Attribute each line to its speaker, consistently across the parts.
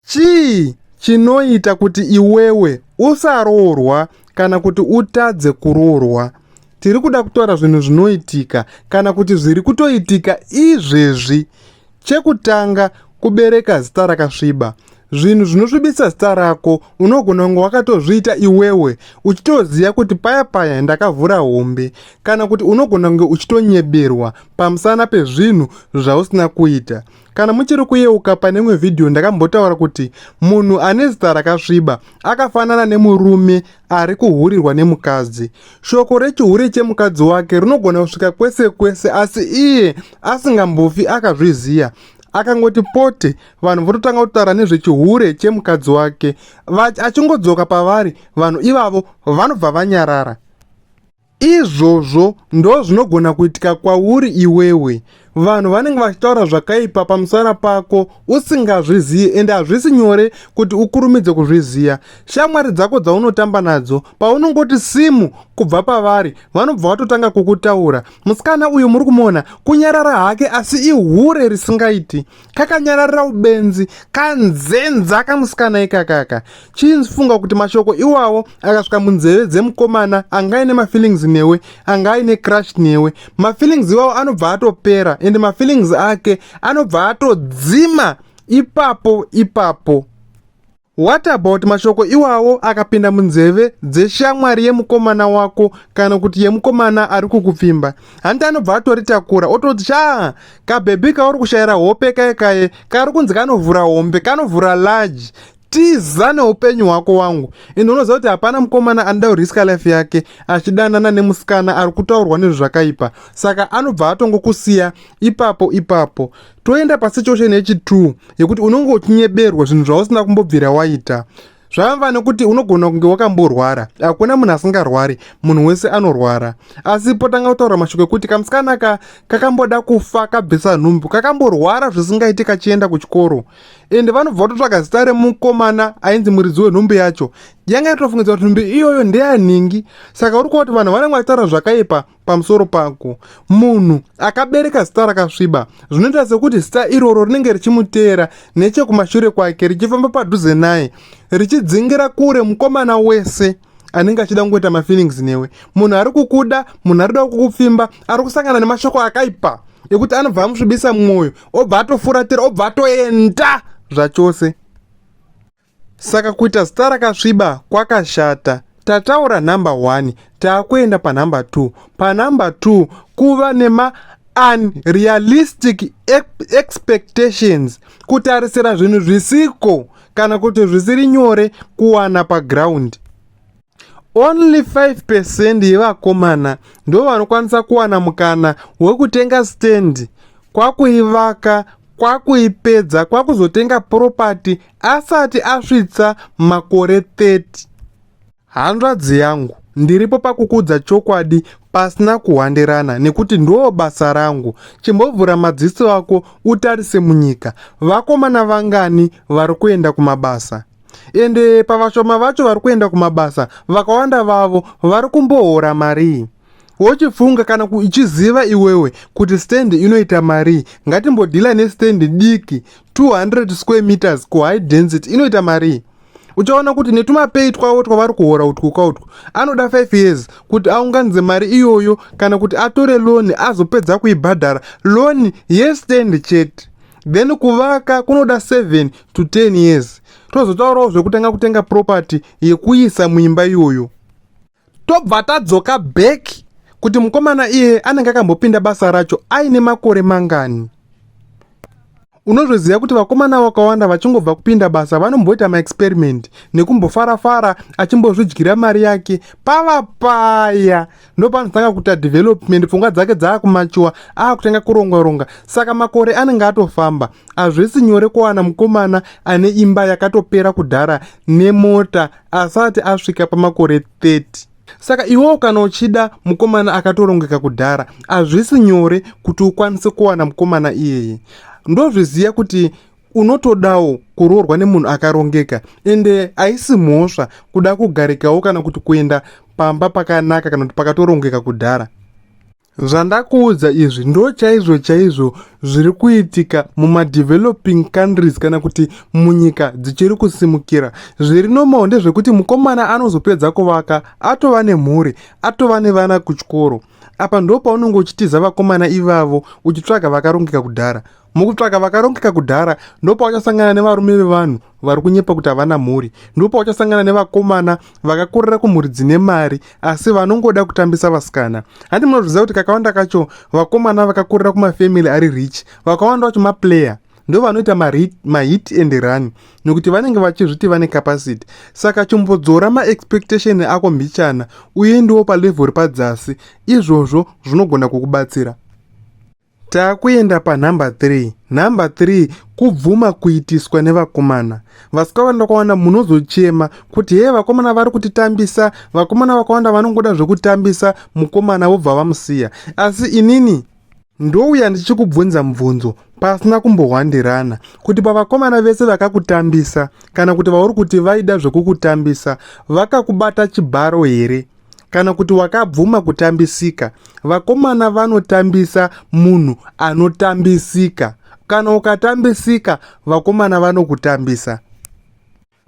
Speaker 1: Chii chinoita kuti iwewe usaroorwa kana kuti utadze kuroorwa? Tiri kuda kutaura zvinhu zvinoitika kana kuti zviri kutoitika izvezvi. Chekutanga, kubereka zita rakasviba. Zvinhu zvinosvibisa zita rako unogona kunge wakatozviita iwewe uchitoziva kuti paya paya ndakavhura hombe, kana kuti unogona kunge uchitonyeberwa pamusana pezvinhu zvausina kuita. Kana muchiri kuyeuka pane imwe vhidhiyo ndakambotaura kuti munhu ane zita rakasviba akafanana nemurume ari kuhurirwa nemukadzi. Shoko rechihure chemukadzi wake rinogona kusvika kwese kwese asi iye asingambofi akazviziva akangoti pote vanhu vototanga kutaura nezvechihure chemukadzi wake achingodzoka pavari vanhu ivavo vanobva vanyarara Izvozvo ndozvinogona kuitika kwauri iwewe. Vanhu vanenge vachitaura zvakaipa pamusana pako usingazvizivi ende hazvisi nyore kuti ukurumidze kuzviziva. Shamwari dzako dzaunotamba nadzo paunongoti simu kubva pavari vanobva vatotanga kukutaura. Musikana uyu muri kumuona kunyarara hake asi ihure risingaiti. kakanyararira ubenzi kanzenza kamusikana ikakaka chinzi funga kuti mashoko iwawo akasvika munzeve dzemukomana anga aine mafeelings newe anga aine crush newe mafeelings iwawo anobva atopera ende mafeelings ake anobva atodzima ipapo ipapo What about mashoko iwawo akapinda munzeve dzeshamwari yemukomana wako kana kuti yemukomana ari kukupfimba? Hanti anobva atoritakura ototi shaa kabhebhi kauri kushayira hope kaye kaye kari kunzi kanovhura hombe kanovhura large tiza neupenyu hwako wangu ende unoziva kuti hapana mukomana anoda kuriska life yake achidanana nemusikana ari kutaurwa nezvakaipa saka anobva atongokusiya ipapo ipapo toenda pasituation yechitu yekuti unonge uchinyeberwa zvinhu zvausina kumbobvira waita zvamva nekuti unogona kunge wakamborwara hakuna munhu asingarwari munhu wese anorwara asi potanga kutaura mashoko ekuti kamusikana ka kakamboda kufa kabvisa nhumbu kakamborwara zvisingaiti kachienda kuchikoro ende vanobva vatotsvaga zita remukomana ainzi muridzi wenhumbu yacho yanga yatofungidzwa kuti nhumbu iyoyo ndeyanhingi saka uri kuva kuti vanhu vanenge vachitaura zvakaipa pamusoro pako munhu akabereka zita rakasviba zvinoita sekuti zita iroro rinenge richimuteera nechekumashure kwake richifamba padhuze naye richidzingira kure mukomana wese anenge achida kungoita mafeelings newe munhu ari kukuda munhu ari kuda kukupfimba ari kusangana nemashoko akaipa ekuti anobva amusvibisa mwoyo obva atofuratira obva atoenda zvachose Saka kuita zita rakasviba kwakashata. Tataura number one taakuenda panumber two. Panumber two kuva nema unrealistic expectations kutarisira zvinhu zvisiko kana kuti zvisiri nyore kuwana paground. Only 5% yevakomana ndo vanokwanisa kuwana mukana wekutenga stand kwakuivaka kwakuipedza kwakuzotenga property asati asvitsa makore 30. Hanzvadzi yangu ndiripo pakukudza chokwadi pasina kuhwandirana nekuti ndoo basa rangu chimbovhura madziso ako utarise munyika vakomana vangani vari kuenda kumabasa ende pavashoma vacho vari kuenda kumabasa vakawanda vavo vari kumbohora marii wochifunga kana uchiziva iwewe kuti stand inoita marii ngatimbodhila nestand diki 200 square meters kuhigh density inoita marii uchaona kuti netumapei twavo twavari kuhora utwuka utwu anoda 5 years kuti aunganidze mari iyoyo kana kuti atore loni azopedza kuibhadhara loni yestand chete then kuvaka kunoda 7 to 10 years tozotaurawo zvekutanga kutenga property yekuisa muimba iyoyo tobva tadzoka back kuti mukomana iye anenge akambopinda basa racho aine makore mangani unozviziva kuti vakomana vakawanda vachingobva kupinda basa vanomboita maexperiment nekumbofarafara achimbozvidyira mari yake pava paya ndopanotanga kuita development pfungwa dzake dzaakumachuwa aakutanga kuronga ronga saka makore anenge atofamba hazvisi nyore kuwana mukomana ane imba yakatopera kudhara nemota asati asvika pamakore 30 saka iwewo kana uchida mukomana akatorongeka kudhara hazvisi nyore kuti ukwanise kuwana mukomana iyeye ndozviziva kuti unotodawo kuroorwa nemunhu akarongeka ende haisi mhosva kuda kugarikawo kana kuti kuenda pamba pakanaka kana kuti pakatorongeka kudhara zvandakuudza izvi ndo chaizvo chaizvo zviri kuitika mumadeveloping countries kana kuti munyika dzichiri kusimukira zviri nomawo ndezvekuti mukomana anozopedza kuvaka atova nemhuri atova nevana kuchikoro apa ndo paunenge uchitiza vakomana ivavo uchitsvaga vakarongeka kudhara mukutsvaka vakarongeka kudhara ndopauchasangana nevarume vevanhu vari kunyepa kuti havana mhuri ndopauchasangana nevakomana vakakurira kumhuri dzine mari asi vanongoda kutambisa vasikana hanti munozviziva kuti kakawanda kacho vakomana vakakurira kumafamily ari rich vakawanda vacho maplayer ndo vanoita mahit and run nekuti vanenge vachizviti vane capacity saka chimbodzora maexpectation ako mhichana uye ndiwo palevel repadzasi izvozvo zvinogona kukubatsira Takuenda panhamba 3. Nhamba 3 kubvuma kuitiswa nevakomana. Vasikawanda ndokawanda munozochema kuti hee vakomana vari kutitambisa, vakomana vakawanda vanongoda zvekutambisa mukomana vobva vamusiya. Asi inini ndouya ndichikubvunza mubvunzo pasina kumbohwandirana kuti pavakomana vese vakakutambisa kana kuti vauri kuti vaida zvekukutambisa vakakubata chibharo here? kana kuti wakabvuma kutambisika vakomana vanotambisa munhu anotambisika kana ukatambisika vakomana vanokutambisa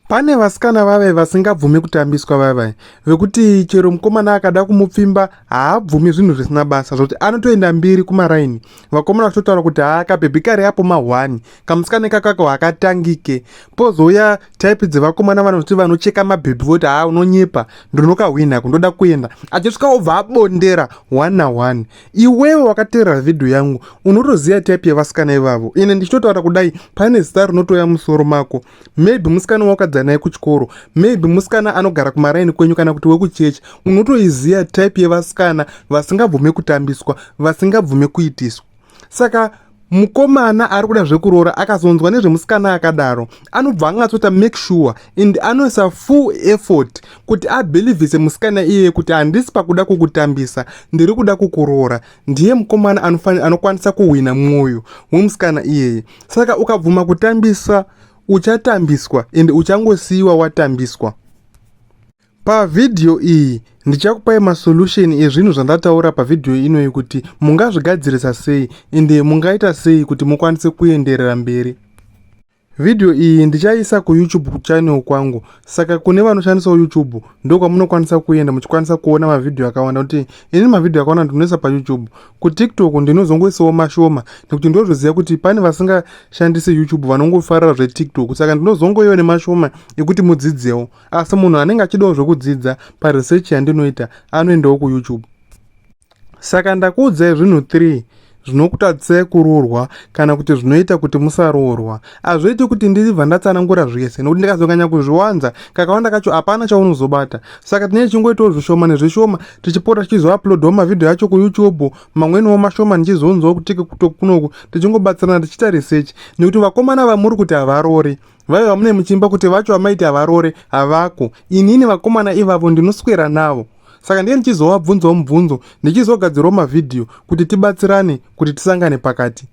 Speaker 1: pane vasikana vave vasingabvumi kutambiswa vave vekuti chero mukomana akada kumupfimba haabvumi zvinhu zvisina basa zvokuti anotoenda mbiri kumaraini vakomana vachitotaura kuti haakabhebhikari apo mahwani kamusikana kakako hakatangike pozouya type dzevakomana vanoti vanocheka mabhebhi voti haa unonyepa ndinokahwina kundoda kuenda achisvika obva abondera one na one iwewe wakateerera vhidhiyo yangu unotoziva type yevasikana ivavo ine ndichitotaura kudai pane zita rinotoya musoro mako maybe musikana waukadzana naye kuchikoro maybe musikana anogara kumaraini kwenyu kana kuti wekuchechi unotoiziva type yevasikana vasingabvume kutambiswa vasingabvume kuitiswa saka mukomana ari kuda zvekuroora akazonzwa nezvemusikana akadaro anobva angatsota make sure and anoisa full effort kuti abhilivhise musikana iyeye kuti handisi pakuda kukutambisa ndiri kuda kukuroora ndiye mukomana anofanira anokwanisa kuhwina mwoyo wemusikana iyeye saka ukabvuma kutambisa uchatambiswa and uchangosiyiwa watambiswa Pavhidhiyo iyi ndichakupai masolution ezvinhu zvandataura pavhidhiyo inoyi kuti mungazvigadzirisa sei ende mungaita sei kuti mukwanise kuenderera mberi. Vhidhiyo iyi ndichaiisa kuYoutube channel kwangu saka kune vanoshandisawo YouTube ndokwamunokwanisa kuenda muchikwanisa kuona mavhidhiyo akawanda kuti ini mavhidhiyo akawanda ndinoisa paYoutube. KuTikTok ndinozongoisawo mashoma nekuti ndozviziva kuti pane vasingashandise YouTube vanongofarira zveTikTok saka ndinozongoiwa nemashoma ekuti mudzidzewo. asi munhu anenge achidawo zvekudzidza paresearch yandinoita anoendawo kuyoutube saka ndakuudzai zvinhu 3 zvinokutadzisai kuroorwa kana kuti zvinoita kuti musaroorwa hazviiti kuti ndibva ndatsanangura zvese nokuti ndikazonganya kuzviwanza kakawanda kacho hapana chaunozobata saka tinee chingoitawo zvishoma nezvishoma tichipota tichizouploadwa mavhidhiyo acho kuyoutube mamweniwo mashoma ndichizonzwa kutike kutokunoku tichingobatsirana tichiita research nekuti vakomana vamuri kuti havarori vaiva mune muchimba kuti vacho vamaiti havarore havako inini vakomana ivavo ndinoswera navo saka ndiye ndichizovabvunzawo mubvunzo ndichizogadzirawo mavhidhiyo kuti tibatsirane kuti tisangane pakati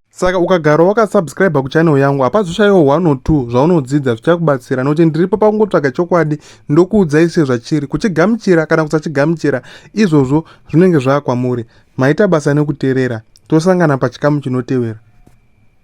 Speaker 1: saka ukagara wakasubscribe kuchannel yangu hapazoshayiwo one or two zvaunodzidza zvichakubatsira nokuti ndiripo pakungotsvaga chokwadi ndokuudzai sezvachiri kuchigamuchira kana kusachigamuchira izvozvo zvinenge zvaakwamuri maita basa nekuterera tosangana pachikamu chinotevera